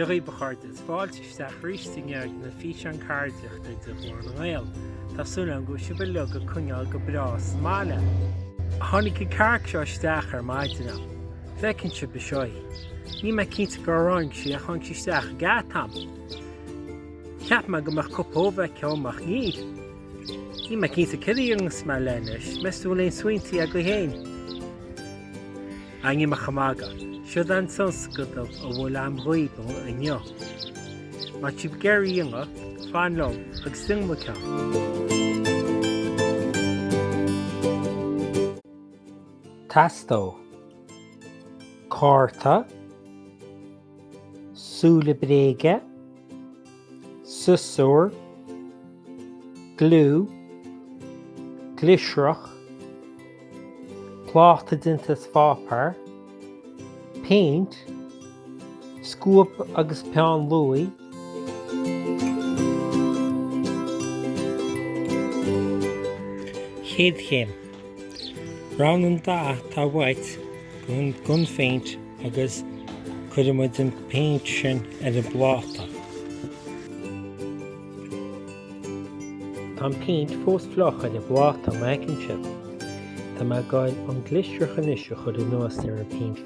Dia dhaoibh a chairde, is fáilte isteach arís sa ngéag na físeán ceardaíochta de Ghlór na nGael. Tá súil agam go bhfuil sibh uilig ag coinneáil go breá sa mbaile. Tháinig an chearc seo isteach ar maidin agam. An bhfeiceann sibh anseo í. Níl mé cinnte cá raibh sí ach tháinig sí isteach an geata agam. Cheap mé go mbeadh cúpla ubh aici dhom ach níl. Níl mé cinnte céard a dhéanfas mé léi anois, meas tú an bhfuil aon smaointí agaibh féin? Anyway, níl mé ach ag magadh. Siod é an tionscadal a bhfuil agam dhaoibh inniu. Má tá sibh ag iarraidh é a dhéanamh, fan liom agus déanfaidh muid ceann. Teastóidh cárta. súile bréige, siosúr, gliú, gliosrach, pláta déanta as páipéar, péint, scuab agus peann luaidh, An chéad chéim. Roghnaigh an dath atá uait den phéint agus cuirfidh muid an phéint sin ar an bpláta. Tá an phéint fós fliuch ar an bpláta, an bhfeiceann sibh? Tá mé ag gabhail an gliosrach anois a chur anuas ar an phéint.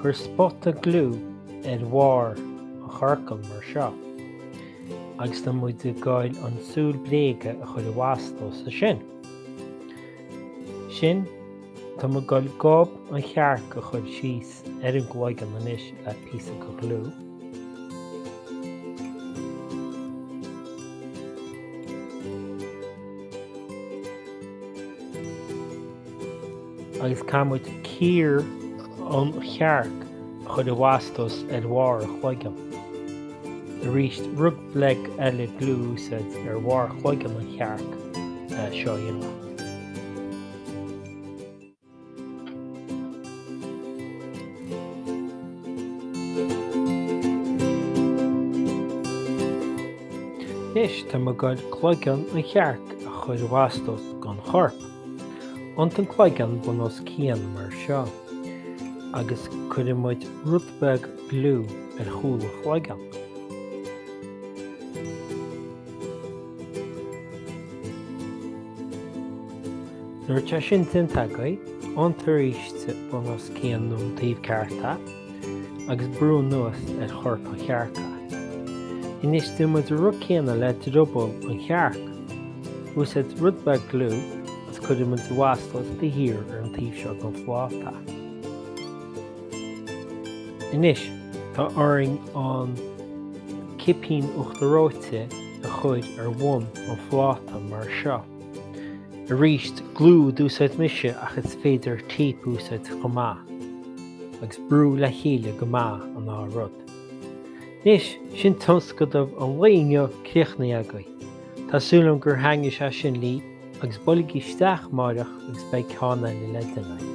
Cuir spota gliú ar bharr an chiorcail mar seo agus tá muid ag gabháil an tsúil bréige a chur i bhfastó sa sin. Sin, tá muid ag gabháil gob an chearc a chur síos ar an gcloigeann anois le píosa de ghliú. agus caithfidh muid cíor an chearc a chur i bhfastó ar bharr a chloigeann. Arís, rud beag eile gliú a úsáid ar bharr chloigeann an chearc le seo a dhéanamh. Anois, tá muid ag goil cloigeann an chearc a chur i bhfastó sa gcorp. Iontaigh an cloigeann bun os cionn mar seo agus cuirfidh muid rud beag gliú ar chúl an chloigeann. Nuair atá sin déanta agaibh, iontaigh aríst é bun os cionn nó an taobh ceart a. agus brú anuas ar chorp an chearc. Anois déanfaidh muid an rud céanna le drioball an chearc. Úsáid rud beag gliú agus cuirfidh muid ina bhfastó é thíos ar an taobh seo den phláta. Anois, tá orainn an cipín uachtair reoite a chur ar bhun an phláta mar seo. Arís, gliú a d'úsáid mise ach is féidir téip a úsáid chomh maith. agus brú le chéile go maith an dá rud. Anois, sin tionscnamh an lae inniu críochnaithe agaibh. Tá súil agam gur thaitnigh sé sin libh agus buailigí isteach amárach agus beidh ceann eile le déanamh.